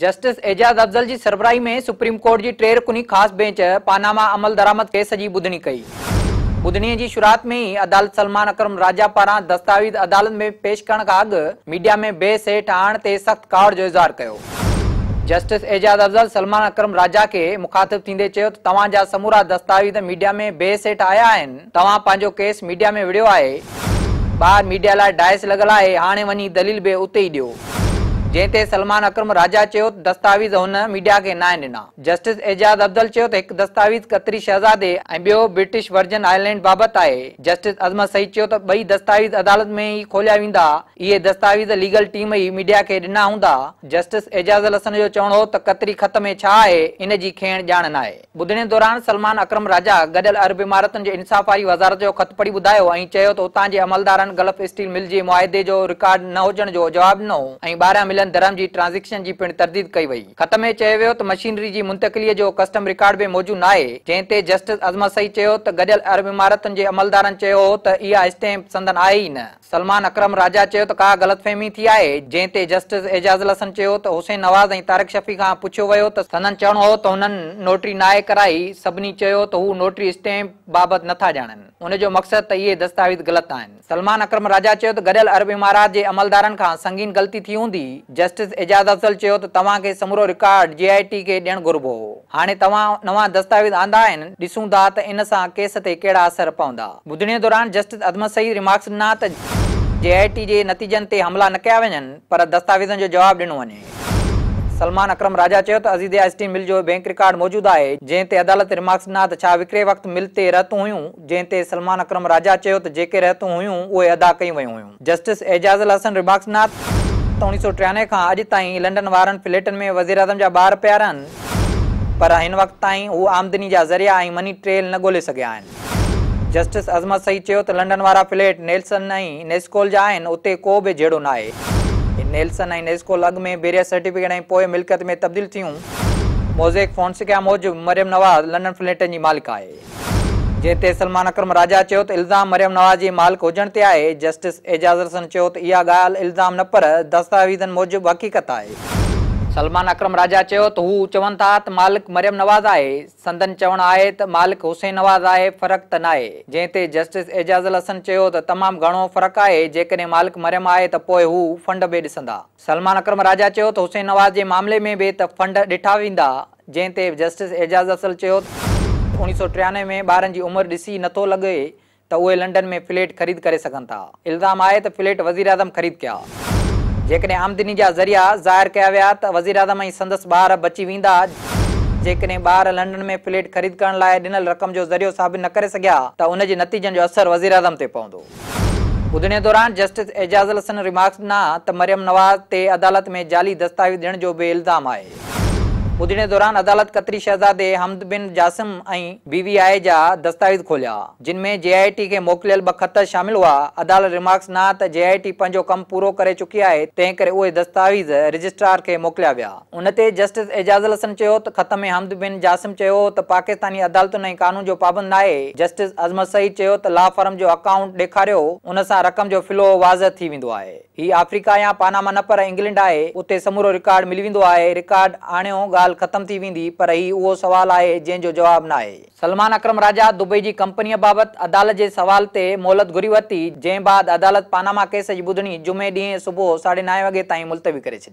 Justice Ijaz Afzal جي سربراهي ۾ supreme court جي ٽي رڪني خاص بينچ پاناما عملدرآمد ڪيس جي ٻڌڻي ڪئي. ٻڌڻي جي شروعات ۾ ئي عدالت سلمان اڪرم راجا پاران دستاويز عدالت ۾ پيش ڪرڻ کان اڳ ميڊيا ۾ بحث هيٺ آڻڻ تي سخت ڪاوڙ جو اظهار ڪيو. جسٽس اعجاز افضل سلمان اڪرم راجا کي مخاطب ٿيندي چيو ته توهان جا سمورا دستاويز ميڊيا ۾ بحث هيٺ آيا آهن، توهان پنهنجو ڪيس ميڊيا ۾ وڙهيو آهي ٻاهر ميڊيا لاء ڊائس لڳل آهي هاڻي وڃي دليل به اتي ئي ڏيو جنهن تي سلمان اڪرم راجا چيو ته دستاويز هن ميڊيا کي ناهن ڏنا جسٽس اعجاز افضل چيو ته هڪ دستاويز قطري شهزادي ۽ ٻيو برٽش ورجن آئرلينڊ بابت آهي جسٽس عظمت سعيد چيو ته ٻئي دستاويز عدالت ۾ ئي کوليا ويندا اهي دستاويز ليگل ٽيم ئي ميڊيا کي ڏنا هوندا جسٽس اعجاز الحسن جو چوڻ هو ته قطري خط ۾ ڇا آهي ان جي کيڻ ڄاڻ ناهي. ٻڌڻي دوران سلمان اڪرم راجا گڏيل عرب امارتن جي انصاف واري وزارت جو خط پڙهي ٻڌايو ۽ چيو ته اتان جي عملدارن گلف اسٽيل مل جي معاهدي جو رڪارڊ نه هجڻ جو جواب ڏنو هو ۽ ٻاهريان مليل درهم جي ٽرانزيڪشن جي پڻ ترديد ڪئي وئي. خط ۾ چيو ويو ته مشينري جي منتقليء جو ڪسٽم رڪارڊ به موجود ناهي جنهن تي جسٽس عظمت سعيد چيو ته گڏيل عرب امارتن جي عملدارن چيو هو ته اها اسٽيمپ سندن آهي ئي نه. سلمان اڪرم راجا چيو ته ڪا غلط فهمي ٿي آهي، جنهن تي جسٽس اعجاز الحسن چيو ته حسين نواز ۽ طارق شفيع کان پڇيو ويو ته سندن چوڻ هو ته هنن نوٽري ناهي ڪرائي، سڀني چيو ته هو نوٽري اسٽيمپ بابت نٿا ڄاڻن، ان جو مقصد ته اهي دستاويز غلط آهن. سلمان اڪرم راجا چيو ته گڏيل عرب امارات جي عملدارن کان سنگين غلطي ٿي هوندي، جسٽس اعجاز افضل چيو ته توهان کي سمورو رڪارڊ جي آء ٽي کي ڏيڻ گهربو هو، هاڻي توهان نوان دستاويز آندا آهن، ڏسون ٿا ته ان سان ڪيس تي ڪهڙا اثر پوندا. ٻڌڻي دوران جسٽس عظمت سعيد ريمارڪس ڏنا ته جي آء ٽي جي نتيجن تي حملا نه ڪيا وڃن پر دستاويزن جو جواب ڏنو وڃي. سلمان اڪرم راجا چيو ته عزيزي آئس ٽي مل جو بئنڪ رڪارڊ موجود آهي جنهن تي عدالت ريمارڪس ڏنا ته ڇا وڪري وقت مل تي رهتون هيون جنهن تي سلمان اڪرم راجا چيو ته جيڪي رهتون هيون اهي ادا ڪيون ويون هيون. جسٽس اعجاز الحسن رباڪس ناٿ اوڻي سؤ ٽيانوي کان اڄ تائين لنڊن وارن فليٽن ۾ وزيراعظم جا ٻار پيا رهن پر هن وقت تائين هو آمدني جا ذريعا ۽ مني ٽريل نه ڳولي سگهيا آهن. جسٽس عظمت سعيد چيو ته لنڊن وارا فليٽ نيلسن ۽ نيسڪول جا آهن اتي ڪو به جهيڙو ناهي. نيلسن ۽ نيسڪول اڳ ۾ بيريا سرٽيفڪيٽ ۽ پوء ملڪيت ۾ تبديل ٿيون. موزيڪ فونسيڪا موجب مريم نواز لنڊن فليٽن جي مالڪ آهي. جنهن تي سلمان اڪرم راجا چيو ته الزام مريم نواز جي مالڪ هجڻ تي آهي، جسٽس اعجاز الحسن چيو ته اها ڳالهه الزام نه پر دستاويزن موجب حقيقت آهي. سلمان اڪرم راجا چيو ته هو چون ٿا ته مالڪ مريم نواز آهي، سندن چوڻ آهي ته مالڪ حسين نواز آهي، فرق ته ناهي، جنهن تي جسٽس اعجاز الحسن چيو ته تمام گهڻو فرق آهي، جيڪڏهن مالڪ مريم آهي ته پوء هو فنڊ به ڏسندا. سلمان اڪرم راجا چيو ته حسين نواز جي معاملي ۾ به ته فنڊ ڏٺا ويندا جنهن تي جسٽس اعجاز اصل چيو ته اوڻيهه سؤ ٽيانوي ۾ ٻارن جي عمر ڏسي نه ٿو لڳي ته اهي لنڊن ۾ فليٽ خريد ڪري سگهن ٿا الزام آهي ته فليٽ وزيراعظم خريد ڪيا جيڪڏهن آمدني جا ذريعا ظاهر ڪيا ويا ته وزيراعظم ۽ سندس ٻار بچي ويندا جيڪڏهن ٻار لنڊن ۾ فليٽ خريد ڪرڻ لاء ڏنل رقم جو ذريعو ثابت نه ڪري سگهيا ته ان جي نتيجن جو اثر وزيراعظم تي پوندو. ٻڌڻي دوران جسٽس اعجاز الحسن ريمارڪس ڏنا ته مريم نواز تي عدالت ۾ جعلي دستاويز ڏيڻ جو به الزام آهي. ٻڌڻي دوران عدالت قطري شهزادي حمد بن جاسم ۽ بي وي آء جا دستاويز کوليا، جن ۾ جي آء ٽي کي موڪليل ٻه خط شامل هئا، عدالت ريمارڪس ڏنا ته جي آء ٽي پنهنجو ڪم پورو ڪري چڪي آهي، تنهنڪري اهي دستاويز رجسٽرار کي موڪليا ويا. ان تي جسٽس اعجاز الحسن چيو ته ختم حمد بن جاسم چيو هو ته پاڪستاني عدالتن ۽ قانون جو پابند ناهي، جسٽس عظمت سعيد چيو ته لا فرم جو اڪائونٽ ڏيکاريو، ان سان رقم جو فلو واضح ٿي ويندو آهي. هي آفريڪا يا پاناما نه پر انگلنڊ آهي، اتي سمورو رڪارڊ ملي ويندو آهي، رڪارڊ آڻيو ڳالهه ختم ٿي ويندي پر هي اهو سوال آهي جنهن جو جواب ناهي. سلمان اڪرم راجا دبئي جي ڪمپنيء بابت عدالت جي سوال تي مهلت گهري ورتي، جنهن بعد عدالت پاناما ڪيس جي ٻڌڻي جمعي ڏينهن صبح ساڍي نائين وڳي تائين ملتوي ڪري ڇڏي.